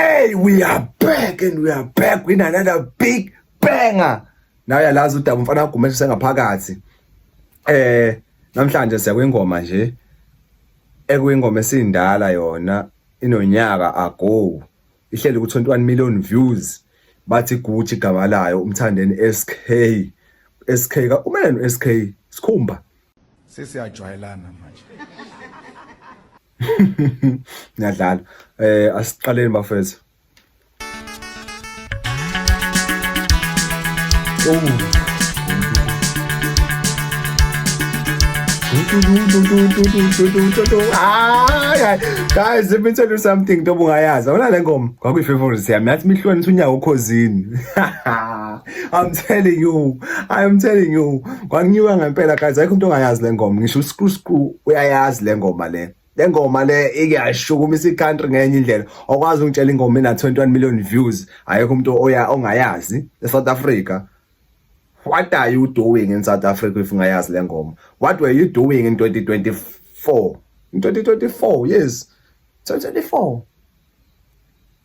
Hey, we are back and we are back with another big banger. Nawe yalazi udaba mfana agumeshe sengaphakathi. Eh, namhlanje siya kwingoma nje. Ekwingoma esindala yona inonyaka ago. Ihleli ku 21 million views. Bathi Gucci igama layo umthandeni SK. SK ka umele no SK sikhumba. Sesiyajwayelana manje. Ngiyadlala. Eh asiqaleni bafethu. Oh. guys let me tell you something ntoba ungayazi awona le ngoma kwakuyi-favorite yami yathi mihlonisa unyawo okhozini I'm telling you, I'm telling you. Kwangiwa ngempela guys, ayikho umuntu ongayazi le ngoma. Ngisho uScrew Screw uyayazi le ngoma le. Le ngoma le ikuyashukumisa i-country ngenye indlela. Okwazi ukutshela ingoma ena 21 million views. Ayikho umuntu oya ongayazi eSouth Africa. What are you doing in South Africa if ungayazi le ngoma? What were you doing in 2024? In 2024, yes. 2024.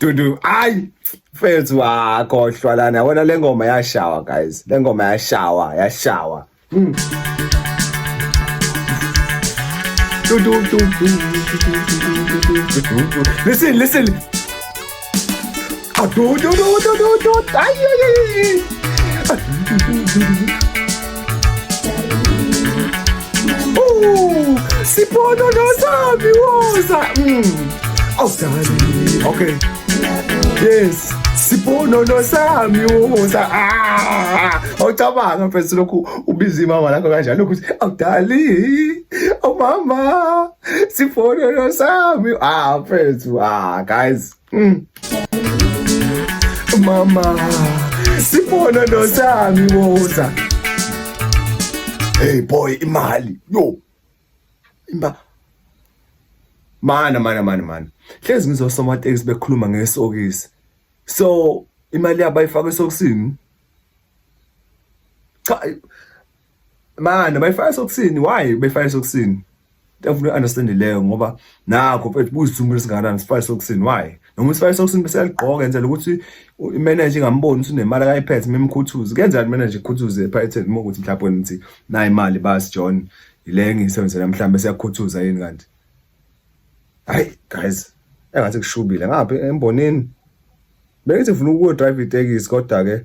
Dudu, ay mfethu wakhohlwa lana yabona le ngoma yashawa guys. Le ngoma yashawa, yashawa. Mm. Listen, listen. Ay, ay, ay, ay. Ooh, siphono nosabi woza. Mm. Oh, darling. Okay. Yes. Siphono nosabi woza. Ah! Awucabanga mfethu lokhu ubiza imama lakho kanjalo ukuthi oh darling. Oh mama. Siphono nosabi. Ah, mfethu. Ah, guys. Mm. Mama, sibona nosami boza. Hey boy, imali. Yo. Imba. Mana mana mana mana. Hlezi ngizwa somatekisi bekhuluma ngesokisi. So imali yabo ayifaka esokisini. Cha Manje bayifaka sokusini why befaka sokusini? Ngiyafuna understand leyo ngoba nakho mfethu buzithumela singakanani sifaka sokusini why? Noma sifaka sokusini bese yaligqoka enzela ukuthi imanager ingamboni ukuthi unemali akayiphethe memkhuthuzi. Kenzani manager ikhuthuze ephayetheni uma ukuthi mhlawumbe wena uthi nayi imali bas John ile ngisebenzela mhlawumbe siyakhuthuza yini kanti? Hayi guys engathi kushubile ngapha embonini bengithi ngifuna ukuyodrive itekisi kodwa ke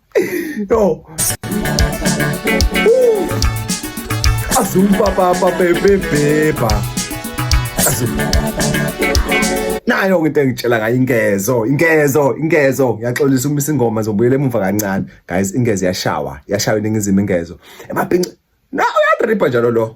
Yo. Uh. Azumpa papa bebe beba. Azumpa. Nayo ke into engitshela ngayo ingezo, ingezo, ingezo. Ngiyaxolisa uma isingoma zobuyela emuva kancane. Guys, ingezo yashawa, yashawa iningizimu ingezo. Emabhinci. Na uyatripa njalo lo.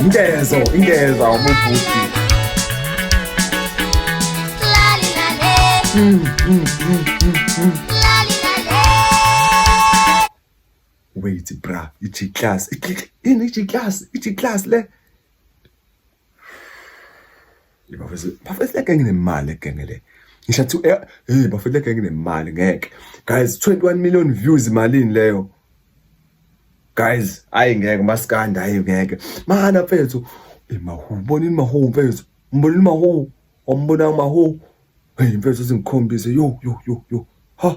Ingezo, ingeza umubhuti. Mm, mm, mm, mm, mm. Wait, bra, ithi class. Ini ithi class, ithi class le. bafethu bafethu le genge nemali le genge le ngisho athi eh, hey bafethu le genge nemali ngeke guys 21 million views imalini leyo guys ayi ngeke maskandi ayi ngeke mana mfethu imahu bonini mahu mfethu mbonini mahu ombona mahu hey mfethu singikhombise yo yo yo yo ha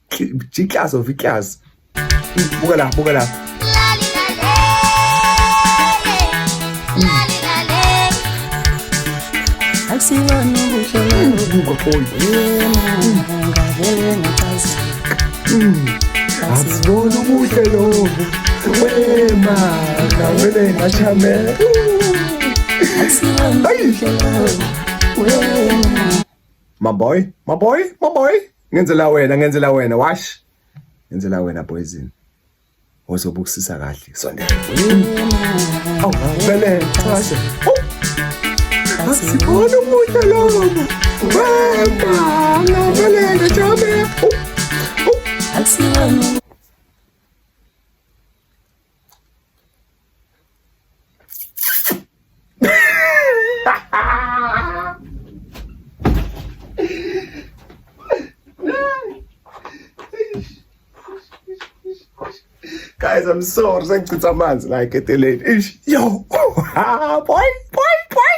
jiklazi of iklazi buka la buka la akusibona ubuhle lobu wema ngavele ngachamela My boy, my boy, my boy. ngenzela wena ngenzela wena wash ngenzela wena poison ozobukusisa kahle sondela oh bele chashe asibona umuntu lowo wema ngabelele jame oh, oh. guys i'm sorry sengichitha amanzi la eketeleni ish yo boy boy boy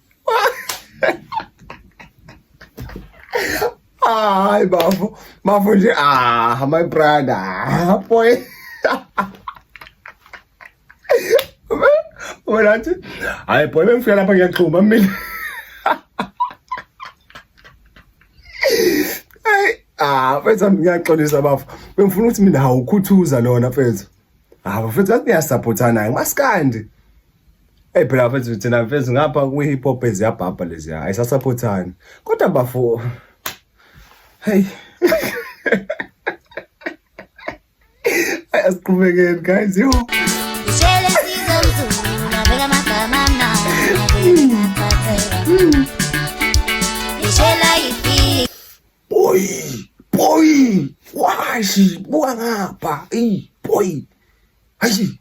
Ay, bafo. Bafo nje. Ah, my brother. Ah, boy. Wena athi, hayi boy bengifika lapha ngiyaxhuma mina. Hey, ah, mfethu ngiyaxolisa bafo. Bengifuna ukuthi mina hawukhuthuza lona mfethu. Ah, mfethu athi niyasupportana, maskandi. Hey phela mfethu thina mfethu ngapha kwi hip hop eziyabhabha lezi hayi sasaphothani. Kodwa bafo Hey. Asiqhubekeni guys yo. Ishele sizomzulu nabeka amagama amnandi. Ishela ifi. Boy, boy. Washi buka ngapha. Ey, boy. Hayi.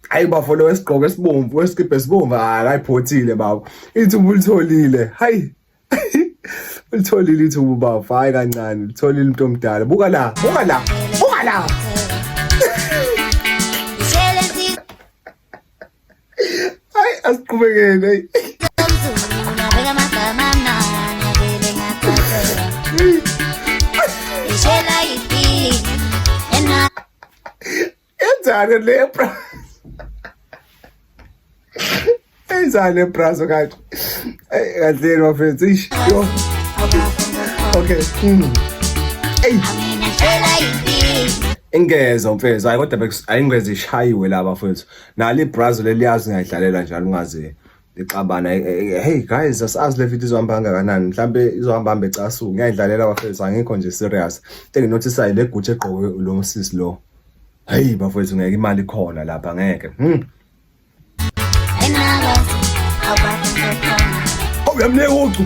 hayi bafo lo wesigqoko esibomvu wesikibhe esibomvu akayiphothile baba ithuba ulitholile hayi ulitholile ithuba bafo hayi kancane ulitholile umuntu omdala buka la buka la buka la hayi asiqhubekeni hayi Enzani le bra? Enzani le bra so kanti? Ey kanti my friends ish. Yo. Okay. Mm. Ey. Ingeza mfethu hayi kodwa ayingeze ishayiwe laba mfethu. Nali brazo leliyazi ngayidlalela njalo ungazi. ixabana eh, eh, eh, hey guys asazi le video izohamba kangakanani mhlambe izohamba hambe casu ngiyayidlalela bafethu angikho nje serious into enginotisayo le gutshe egqoke lo sisi lo hey bafethu ngeke imali khona lapha ngeke hmm uyamnika ucu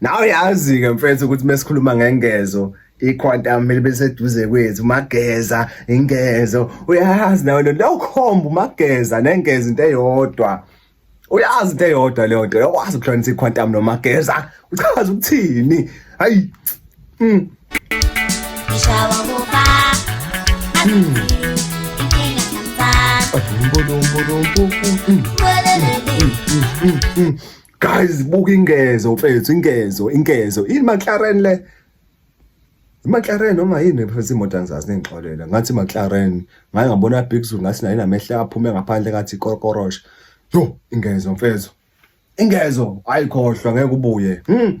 Nawe yazi-ke mfethu ukuthi mesikhuluma ngengezo iquantum libe seduze kwethu mageza ingezo uyazi nawe lento yokhomba umageza nengeza into eyodwa uyazi into eyodwa leyo nto uyakwazi ukuhlanisa iquantum nomageza uchaza ukuthini hayi mm. guys buka ingezo mfethu ingezo ingezo ini McLaren le McLaren noma yini mfethu imoto angizazi nengixolela ngathi McLaren ngaye ngabona Big Zulu ngathi naye namehla aphume ngaphandle ngathi korokorosh yo ingezo mfethu ingezo ayikhohlwa ngeke ubuye hmm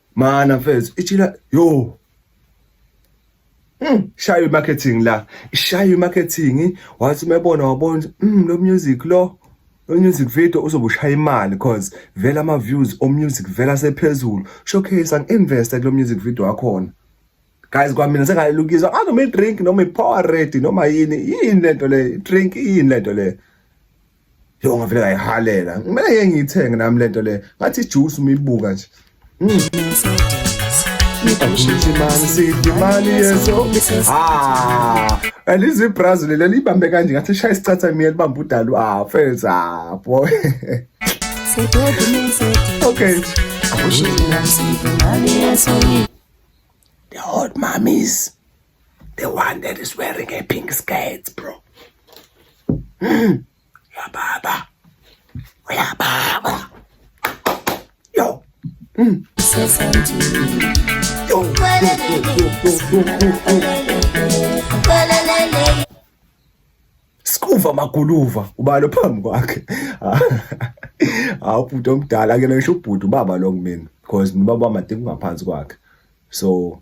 mana mfethu ichila yo Mm, shayo marketing la ishayo marketing wathi umebona wabona mm, lo music lo lo music video uzobushaya imali cause vela ama views o music vela sephezulu showcase ang invest kulo music video wakhona guys kwamina sengalelukizwa anoma ah, i drink noma i power ready noma yini yini lento le drink yini lento le Yo ngavele ngayihalela. Kumele ngeke ngiyithenge nami lento le. Ngathi juice umibuka nje. alizi ibrazil leli libambe kanje ngathi shaya isicatha miya libambe udalu ah fels ah boy okay the old mummies The one that is wearing a pink skirt, bro. Mm. Ya baba. Ya baba. Yo. Mm. Yo. Skuva maguluva ubalo phambi kwakhe. Hawu bhuti omdala ke ngisho ubhuti ubaba lo kumina because ubaba wamadinga ngaphansi kwakhe. So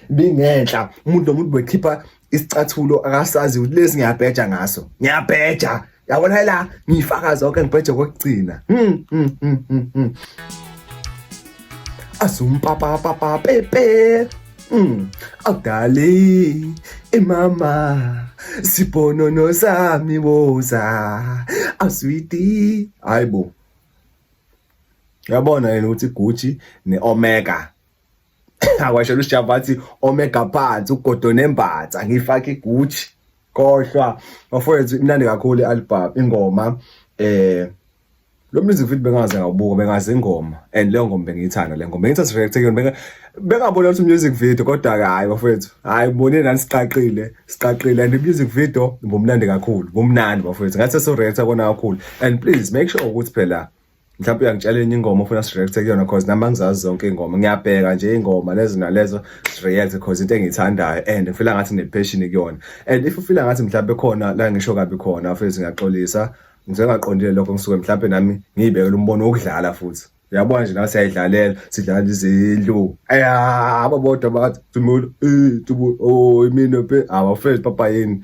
bingenhla umuntu nomuntu bekhipha isicathulo akasazi ukuthi lesi ngiyabheja ngaso ngiyabheja yabona la ngiyifaka zonke ngibheje kokugcina hmm, hmm, hmm, azumpapapapa pepe awudali imama sibonono sami woza aswiti hayibo yabona yena ukuthi gucci ne-omega awashela uSjava wathi omega phansi ugodo nembatha ngifaka iGucci kohlwa bafowethu imnandi kakhulu ialbum ingoma eh lo music video bengaze ngawubuka bengaze ingoma and leyo ngoma bengiyithanda le ngoma bengithatha react kuyona benga bengabona ukuthi music video kodwa ke hayi bafowethu hayi ubone nani siqaqile siqaqile and music video bomnandi kakhulu bomnandi bafowethu ngathi so react kona kakhulu and please make sure ukuthi phela mhlawumbe uyangitshela enye ingoma ofuna sireact kuyona cause nami angizazi zonke ingoma ngiyabheka nje ingoma lezo nalezo sireact cause into engiyithandayo and ngifila ngathi nepassion kuyona and if ufila ngathi mhlawumbe khona la ngisho kabi khona futhi ngiyaxolisa ngizengaqondile lokho ngisuke mhlawumbe nami ngiyibekela umbono wokudlala futhi uyabona nje nawe siyayidlalela sidlala izindlu aya ababodwa bathi tumulo eh tubu oh imino pe awafezi papa yini